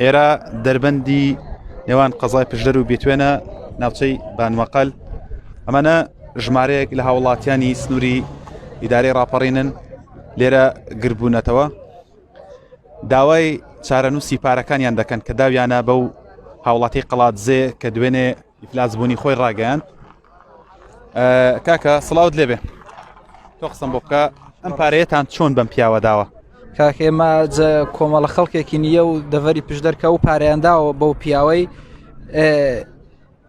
ئێرە دەربەندی نێوان قەزای پشدەر و بێتوێنە ناوچەی بانمەقل ئەمانە ژمارەیەک لە هاوڵاتیانی سنووری ئیدارەی راپەڕینن لێرە گربوونەتەوە داوای چارەنووسی پارەکانیان دەکەن کە داویانە بەو هاوڵاتی قەڵات زێ کە دوێنێ ئیفلاس بوونی خۆی ڕاگەیاند کاکە سڵاوت لێبێ تۆ قسم بۆ بکە ئەم پارەیەتان چۆن بەم پیاوە داوە کاکە ئێمە کۆمەڵە خەڵکێکی نییە و دەڤەری پشت دەرکە و پارەیانداوە بەو پیاوەی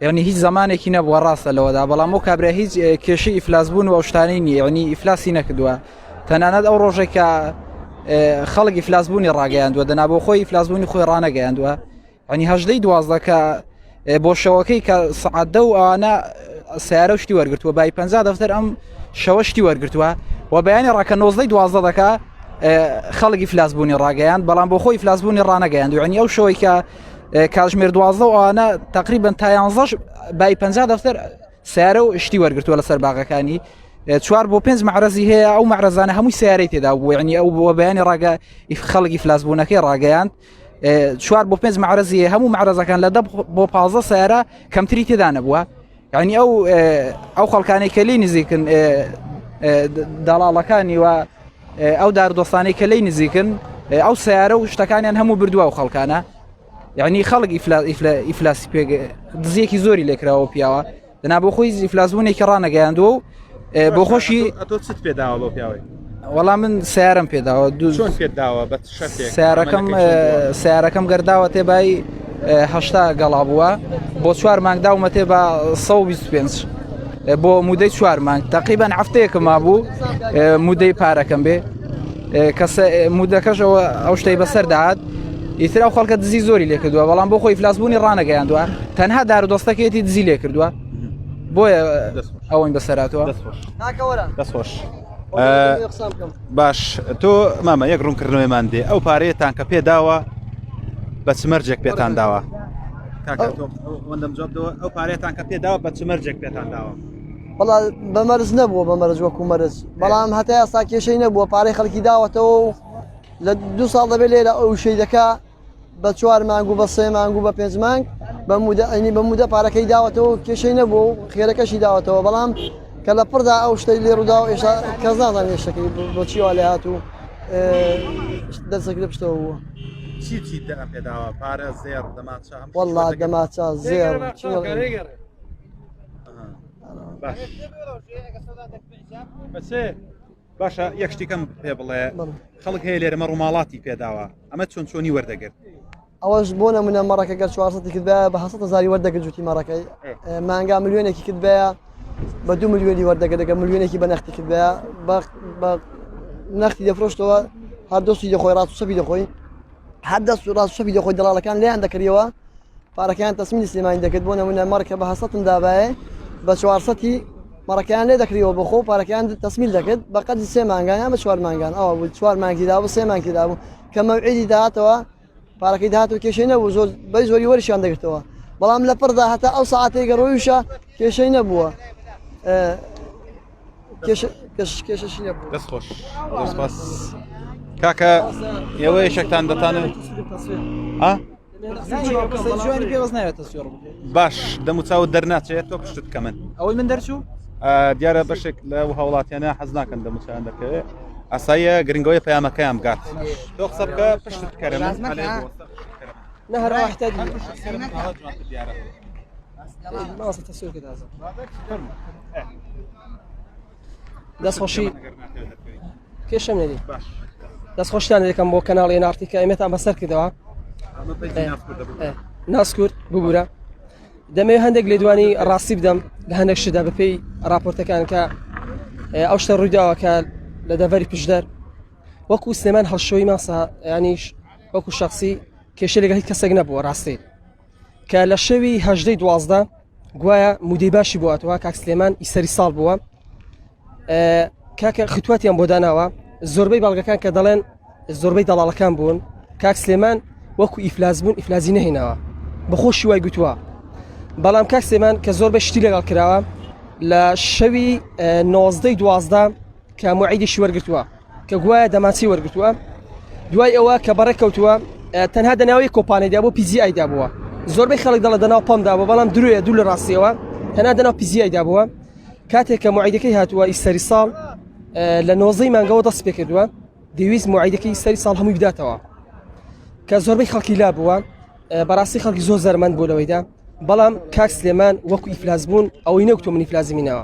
یعنی هیچ زمانێکی نەبووە ڕاستە لەوەدا بەڵام و کابرا هیچ کێشی ئیفلاس بوون و شتانی نیعنی ئیفلاسی نەکردووە تەنانەت ئەو ڕۆژێکە خەڵکی فلاسبوونی ڕاگەیاندووە دەنا بۆ خۆی فلاسبوونی خۆی ڕانەگەیاندووە ئەنی هەژدەی دوازدە کە بۆ شەوەکەی کە سعادە و ئەوانە سیارە شتی وەرگتووە بای پ دەفتەر ئەم شەوە شتی وەرگتووە و بەیانی ڕاکە نۆزدەی دوازدە دەکە خەڵکی فلاسبوونی ڕاگەیان بەڵام بۆ خۆی فلاسبوونی ڕانەگەیان دوێنی ئەو شەوەی کە کاژمێر دوازدە و ئەوانە تقریبن تایانزەش بای پ دەفتەر سیارە و شتی وەرگتووە لەسەر باغەکانی چوار بۆ پێنج معرەزی هەیە ئەو معرەزانە هەمووی سیارەی تێدا بووێنی ئەو بۆ بەیانی ڕاگە ئیف خەڵکی فلاسبوونەکەی ڕاگەیان چوار بۆ پێنج معرەزیە هەموو معرەزەکان لە دە بۆ پازە سیارە کەمتری تێدا نەبووە یعنی ئەو ئەو خەڵکانی کە لی نزیکن داڵاڵەکانی و ئەو داردۆستانی کە لی نزیکن ئەو سیارە و شتەکانیان هەموو بردووە و خەڵکانە یعنی خەڵک ئیفلاسی پێ دزیەکی زۆری لێکراوە پیاوە دەنا بۆ خۆی زیفلاسبوونێکی ڕانەگەیاندووە و بۆ خۆشی ئەتۆ چت پێداوە بۆ پیاوەی وەڵام من سیارم پێداوە دوو پێداوە بە سیارەکەم سیارەکەم گەرداوە تێبای هەشتا گەڵا بووە بۆ چوار مانگ داومە تێ بە 125 بۆ مودەی چوار مانگ تەقیبان هەفتەیەکە مابوو مودەی پارەکەم بێ کەسە مودەکەش ئەوە ئەو شتەی بەسەر داهات ئیترا و خەڵکە دزی زۆری لێ کردووە بەڵام بۆ خۆی فلاسبوونی ڕانەگەیاندووە تەنها دار و دەستەکەێتی دزی لێ کردووە بۆیە ئەوەین بەسەراتوە دەستخۆش باش تۆ مامە یەک ڕوونکردنەوەیمان دێ ئەو پارەیەتان کە پێداوە بە چمەرجێک پێتان داوە ئەو پارێتان کە پێداوە بە چمەرجێک پێتان داوە بەڵام بە مەرز نەبووە بە مەرز وەکو مەرز بەڵام هەتا یاستا کێشەی نەبووە پارەی خەڵکی داوەتەوە و لە دو ساڵ دەبێت لێرە ئەو شەیدەکە بە چوار مانگ و بە سێ مانگ و بە پێنج مانگ بە مودە ئەینی بە مودە پارەکەی داوەتەوە کێشەی نەبوو و خێرەکەشی داوەتەوە بەڵام کە لە پڕدا ئەو شتەی لێ ڕوودا و ئێشتا کەس نازان ێشەکەی بۆچیوا لە هات و دەسەکرە پشتەوە بووە. چی چی پێداوە پارە زێر دەماچە والله دەماچە زێر باشە یەک شتێکم پێ بڵێ خەڵک هەیە لێرەمە ڕووماڵاتی پێداوە ئەمە چۆن چۆنی وەردەگرت ئەوەش بۆ نمونە مەڕەکە گەر چوارسەتی کردە بە حسەتە زاری وەردەگرت جوتی مەڕەکەی مانگا ملیێنێکی کردبەیە بە دو ملیۆنی وەردەگە دەگە ملیێنێکی بە نەختی کردە بە نەختی دەفرۆشتەوە هەردۆستی دەخۆی ڕاستسەبی دەخۆی هەر دەست و ڕاست شەفی دەخۆی دەڵالەکان لیان دەکریەوە پارەکەیان تەسمینی سلێمانی دەکرد بۆ نمونە مەڕکە بە هەسەتم دابایە بە چوارسەتی مەڕەکەیان لێ دەکریەوە بە خۆ پارەکەیان تەسمیل دەکرد بە قەدی سێ مانگانیان بە چوار مانگان ئەوە بوو چوار مانگیدا بوو سێ مانگیدا بوو کە مەوعیدی داهاتەوە پارەکەی داهات و کێشەی نەبوو زۆر بەی زۆری وەرشیان دەگرتەوە بەڵام لە پڕدا هەتا ئەو ساعتێک گەڕۆیشە کێشەی نەبووە کێشەشی نەبوو دەست خۆش دەستپاس کاکە ئێوە یەشێکتان دەتانن باش دەموچاو دەرناچێت تۆ پشتت کە من ئەوەی من دەرچوو دیارە بەشێک لە هاوڵاتیانە حەز ناکەن دەموچیان دەکەوێت ئاساییە گرنگەوەی پەیامەکەیان بگات تۆ قسە بکە پشتت کەرە نە هەر دەست خۆشی کێشە نێری دەست خۆشتان یەکەم بۆ کەناڵی نارتیکە ئەمێتان بەسەر کردەوە ناسکورد ببوورە دەمەوێ هەندێک لێدوانی ڕاستی بدەم لە هەندێک شدا بەپێی راپۆرتەکان کە ئەو شتە ڕوویداوە کە لە دەڤەری پشدەر وەکو سلێمان هەڵشۆی ماسا ینیش وەکو شخصی کێشە لەگەڵی کەسێک نەبووە ڕاستی کە لە شەوی هەژدەی دوازدە گوایە مودەی باشی بواتەوە کاک سلێمان ئیسەری ساڵ بووە کاکە ختواتیان بۆ داناوە زۆربەی بەڵگەکان کە دەڵێن زۆربەی دەڵاڵەکان بوون کاک سلێمان وەکو ئیفلاس بوون ئیفلازی نهێنەوە بەخۆشی وای گوتووە بەڵام کاک سلێمان کە زۆر بە شتی لەگەڵ کراوە لە شەوی نۆزدەی دوازدە کە معیدیشی وەرگتووە کە گوایە دەمانچەی وەرگرتووە دوای ئەوە کە بەڕێ کەوتووە تەنها دەناوی کۆپانێدا بۆ پیزیایدا بووە زۆربەی خەڵک دەڵە دەناو پەمدا بوو بەڵام درێ دوو لە ڕاستیەوە تەنا دەناو پیزیایدا بووە کاتێک کە معیدەکەی هاتووە ئیسەری ساڵ لە نۆزەی مانگەوە دەست پێ کردووە دەویست معیدەکەی سەری ساڵ هەمووی بداتەوە کە زۆربەی خەڵکی لا بووە بەڕاستی خەڵکی زۆر زەرمەند بوو لەوەیدا بەڵام کاک سلێمان وەکو ئیفلاس بوون ئەوەی نەوتۆ منیفلازمینەوە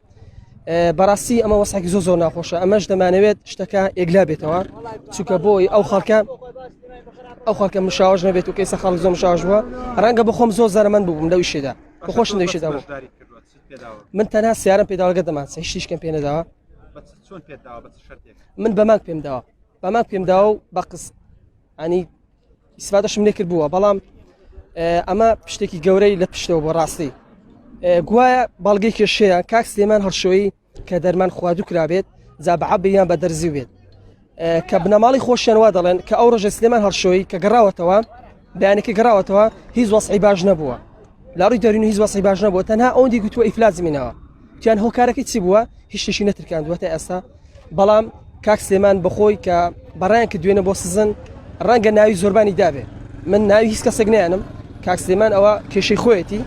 بەڕاستی ئەمە وەساکی زۆ زۆر ناخۆشە ئەمەش دەمانەوێت شتەکە ئێگلا بێتەوە چونکە بۆی ئەو خەڵکە ئەو خەڵکە مشاوش نەبێت و کەیسە خەڵ زۆم شاش بووە ڕەنگە بخۆم زۆر زەرمەند بووم لەو شێدا بخۆش نەویشدا بوو من تەنها سیارم پێداوەگە دەمان هیچیشکەم پێ نەداوە من بەماک پێم داوە بەماک پێم داوە و بە قس ئەنی ئیسفادەشم لێکرد بووە بەڵام ئەمە پشتێکی گەورەی لە پشتەوە بۆ ڕاستی گوایە بەڵگەی کێشەیە کاک سلێمان هەڵشۆی کە دەرمان خواردو کرابێت جا بە عبیان بە دەرزی بێت کە بنەماڵی خۆشیان وا دەڵێن کە ئەو ڕژە سلێمان هەڵشۆی کە گەڕاوەتەوە بەیانێکی گەڕاوەتەوە هیچ وەسعی باش نەبووە لە ڕووی دەروونی هیچ وەزعی باش نەبووە، تەنها ئەوەندی گوتووە ئیفلاجی میناوە، گوتیان هۆکارەکەی چی بووە؟ هیچ شتێکی نەترکاندووە تا ئێستا، بەڵام کاک سلێمان بەخۆی کە بەڕیان کردووینە بۆ سزن ڕەنگە ناوی زۆربانی دابێ، من ناوی هیچ کەسێک نایەنم، کاک سلێمان ئەوە کێشەی خۆیەتی،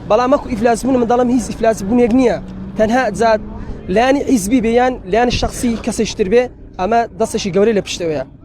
بەڵام وەکو ئیفلاسبوون من دەڵێم هیچ ئیفلاسبوونێک نییە، تەنها جا لایەنی حیزبی بێ یان لایەنی شەخسی کەسێکی تر بێ، ئەمە دەستێکی گەورەی لە پشتەوەیە.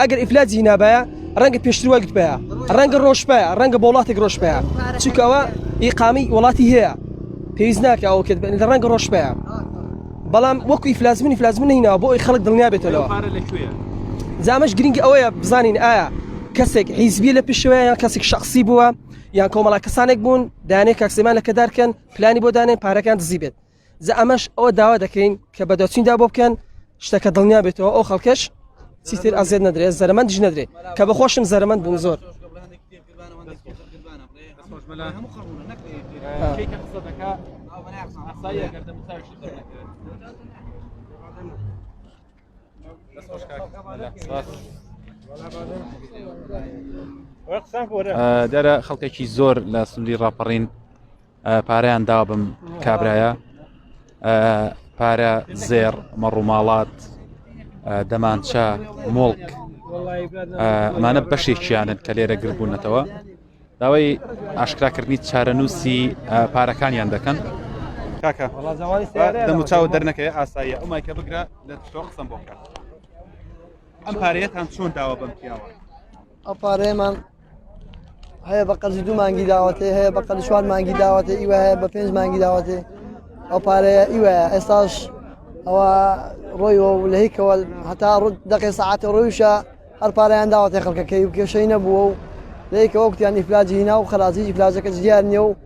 ئەگەر ئیفلاج هینابایە ڕەنگە پێشتر وای گوتبایە ڕەنگە ڕۆژبایە ڕەنگە بۆ وڵاتێک ڕۆژبایە چونکەوە ئیقامی وڵاتی هەیە پێویست ناکە ئەو کرد لە ڕەنگە ڕۆژبایە بەڵام وەکوی فلازمنی فلازمن نینەوە بۆ ئەی خەڵک دڵنیا بێتەوە زامەش گرنگی ئەوەیە بزانین ئایا کەسێک حیزبی لە پیشەوەیە یان کەسێک شخصی بووە یان کۆمەڵا کەسانێک بوون دانێک کاکسیمان لەکەدارکەن پلانی بۆ دانێن پارەکان دزی بێت جا ئەمەش ئەوە داوا دەکەین کە بەدەچیندا بۆ بکەن شتەکە دڵنیا بێتەوە ئەو خەڵکەش چیتر ئازێت نەدرێت زەرمەندش نەدرێت کە بە خۆشم زەرمەند بووم زۆر دەرە خەڵکێکی زۆر لە سندی ڕاپەڕین پارەیان دابم کابرایە پارە زێر مەڕووماڵات دەمانچە مۆڵک ئەمانە بەشێکیانن کە لێرە گربوونەتەوە داوای ئاشکراکردنی چارەنووسی پارەکانیان دەکەن کاکە دەموچاو دەرنەکەی ئاساییە ئەو مایکە بگرە لە تۆ قسم بۆکە ئەم پارەیەتان چۆن داوە بەم پیاوە ئەو پارەیەمان هەیە بە قەرزی دوو مانگی داوەتێ هەیە بە قەرزی چوار مانگی داوەتێ ئیوە هەیە بە پێنج مانگی داوەتێ ئەو پارەیە ئیوە ئێستاش ئەوە ڕۆیەوە و لە هیکەوە هەتا ڕوت دەقێ سعاتە ڕۆیشە هەر پارەیان داوەتێ خەڵکەکەی و کێشەی نەبووە و لەیکەوە کوتیان ئیفلاجی هینا و خەرازیی فلاجەکە دیار نیە و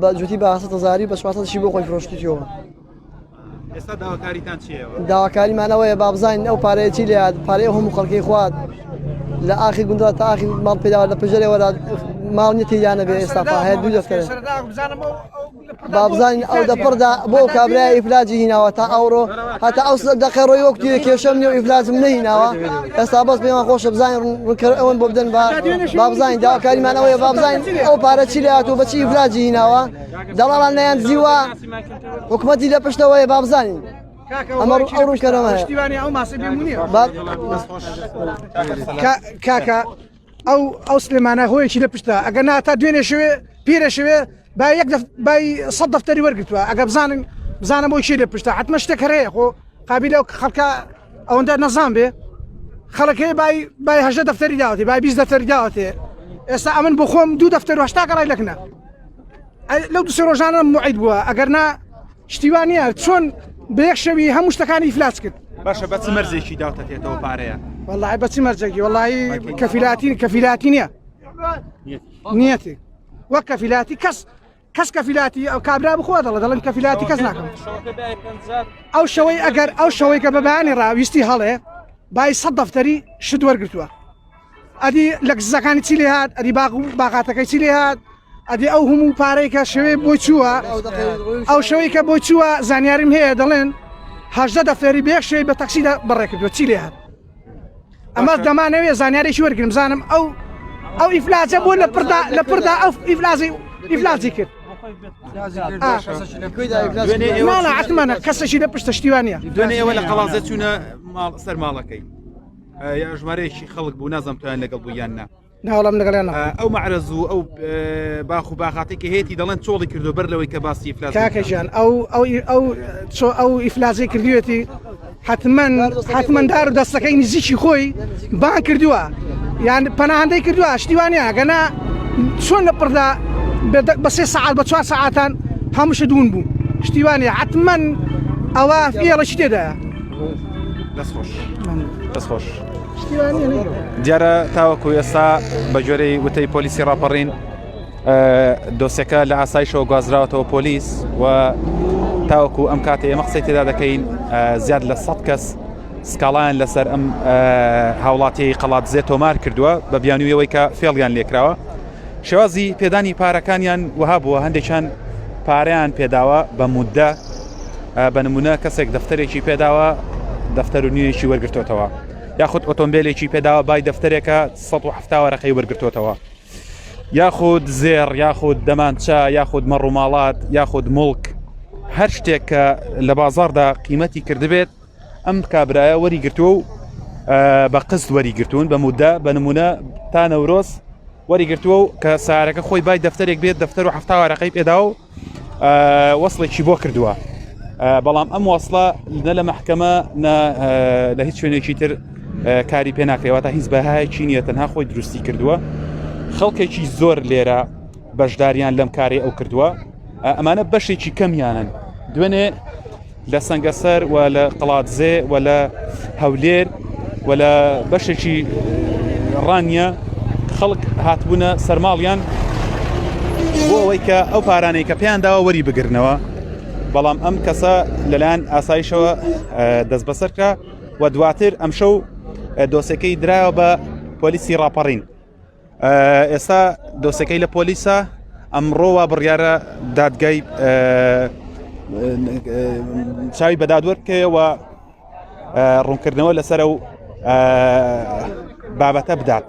بە جوتی بە سە زاری بە شی بۆ خۆی فرۆشتیەوە ئێستا داواکاریتان چیەوە داواکاریمانەوەیە بابزانین ئەو پارەیە چی لات پارەیە هەموو خەڵکی خوات لە ئاخی گوندا تا ئاخی ماڵ پێداوە لە پژەرەوە ماڵ نیەتی یانە بێ ئێستا پاهەیە دوو دەفتەر بابزانین ئەو دەپڕدا بۆ کابراای ئیفلاجی هیناوە تا ئەوڕۆ هەتا ئەو سلە دەقەی ڕۆی وەک تیرە کێشەم نیە و ئیفلاسم نەهیناوە ئێستا بەس پێمان خۆشە بزانین ڕوونکەر ئەوەن بۆ بدەن با با بزانین داواکاریمان ئەوەیە با بزانین ئەو پارە چی لە هات و بەچی ئیفلاجی هیناوە دەڵاڵان نیان زیوە حکوومەتی لە پشتەوەیە با بزانین. ئەمە ئەو ڕوونکەرەوە هەیە. پشتیوانی ئەو ماسە بێمونیە. با- کاکە ئەو ئەو سلێمانە هۆیەکی لە پشتە ئەگەر نا تا دوێنێ شوێ پیرە شوێ با یەک بای سە دەفتەری وەرگتووە ئەگە بزانن بزانە بۆ شی لە پشتە حتممە شتێک هەرەیە خۆ قابلە و خەڵکە ئەوەندە نەزان بێ خەڵەکەی بای بای هەژە دەفتەری داوەتی بای بیست دەفتەری داوەتێ ئێستا ئەمن بۆ خۆم دوو دەفتەر هشتا گەڕای لەکنە لەو دوسێ ڕۆژانە معید بووە ئەگەر نا شتی وا نییە چۆن بە یەک شەوی هەموو شتەکانی ئیفلاس کرد باشە بەچ مەرزێکی داوتەتێتەوە پارەیە وڵی بەچ مەرجێکی وڵی کەفیلاتین کەفیلاتی نییە نیەتی وەک کەفیلاتی کەس کەس کەفیلاتی ئەو کابرا بخوا دەڵە دەڵم کەفیلاتی کەس ناکەم ئەو شەوەی ئەگەر ئەو شەوەی کە بەبانی ڕاویستی هەڵێ بای سە دەفتەری شت وەرگتووە ئەدی لە کززەکانی چی لێ هاات ئەدی باغ و باغاتەکەی چی لێ هاات ئەدی ئەو هەموو پارەی کە شێوەی بۆی چووە ئەو شەوەی کە بۆی چووە زانیاریم هەیە دەڵێن هەژدە دەفێری بێ شێوی بە تەکسیدا بەڕێکردوە چی لێ هاات ئەمە دەمانەوێ زانیارێکی وەرگرم زانم ئەو ئەو ئیفلاجە بۆ لە پردا لە پردا ئەو ئیفلازی ئیفلاجی کرد عتممانە کەسەشی لە پشتە شتیوانە دوێنێ ئەوە لە قەڵازە چوونە سەر ماڵەکەی یا ژمارەیەکی خەڵک بوو نازم توان لەگەڵ بوو یان نا ناڵم لەگەڵیان ئەو مەعرەز و ئەو باخ و باخاتی کە هێتی دەڵێن چۆڵی کردو بەر لەوەی کە باسی فلاکەژیان ئەو ئەو ئەو چۆ ئەو ئیفلازی کردوێتی حتمما حتممەدار و دەستەکەی نزیکی خۆی بان کردووە یان پەناهندەی کردووە شتیوانە گەنا چۆن لە پڕدا بە سێ سعات بە چوار سعاتان هەمووشە دوون بوو شتیوانە حتمما ئەوە فێڵە شتێدا دەست خۆش دەست خۆش دیارە تاوەکو ئێستا بە جۆرەی وتەی پۆلیسی ڕاپەڕین دۆسەکە لە ئاسایشەوە گوازراوەتەوە پۆلیس و تاوەکو ئەم کاتێ ئێمە قسەی تێدا دەکەین زیاد لە سە کەس سکاڵیان لەسەر ئەم هاوڵاتی قەڵات زێ تۆمار کردووە بە بیانویەوەی کە فێڵیان لێکراوە شێوازی پێدانی پارەکانیان وها بووە هەندێکیان پاریان پێداوە بە مودە بە نمونە کەسێک دەفتەرێکی پێداوە دەفتەر و نوێیەکی وەرگرتوتەوە یاخود ئۆتۆمبیلێکی پێداوە بای دەفتەرێکە 1970 وەرەقەی وەرگرتوتەوە یاخود زێر یاخود دەمانچە یاخود مەڕووماڵات یاخود مڵک هەر شتێک کە لە بازاردا قیمەتی کردبێت ئەم کابرایە وەری گرتووە و بە قست وەری گرتوون بە مودە بە نمونە تا نەورۆز وەری گرتووە و کە سارەکە خۆی بای دەفتەرێک بێت دەفتەر و هەفتاوارەقەی پێدا و وەسڵێکی بۆ کردووە بەڵام ئەم وەسڵە نە لە محکەمە لە هیچ شوێنێکی تر کاری پێ ناکرێەوە تا هیچ بەهایکی نیە تەنها خۆی دروستی کردووە خەڵکێکی زۆر لێرە بەشداریان لەم کارێ ئەو کردووە ئەمانە بەشێکی کەمیانن دوێنێ لە سەنگەسەر و لە قەڵادزێ و لە هەولێر و لە بەشێکی ڕانیە خەڵک هاتبوونە سەرماڵیان بۆ ئەوەی کە ئەو پارانەی کە پێیان داوە وەری بگرنەوە بەڵام ئەم کەسە لەلایەن ئاسایشەوە دەست بەسەرکە و دواتر ئەمشەو دۆسەکەی درایەوە بە پۆلیسی ڕاپەڕین ئێستا دۆسەکەی لە پۆلیسە ئەمڕۆ وا بڕیارە دادگای چاوی بەدادوەر بکەیەوە ڕوونکردنەوە لەسەر و بابەتە بدات.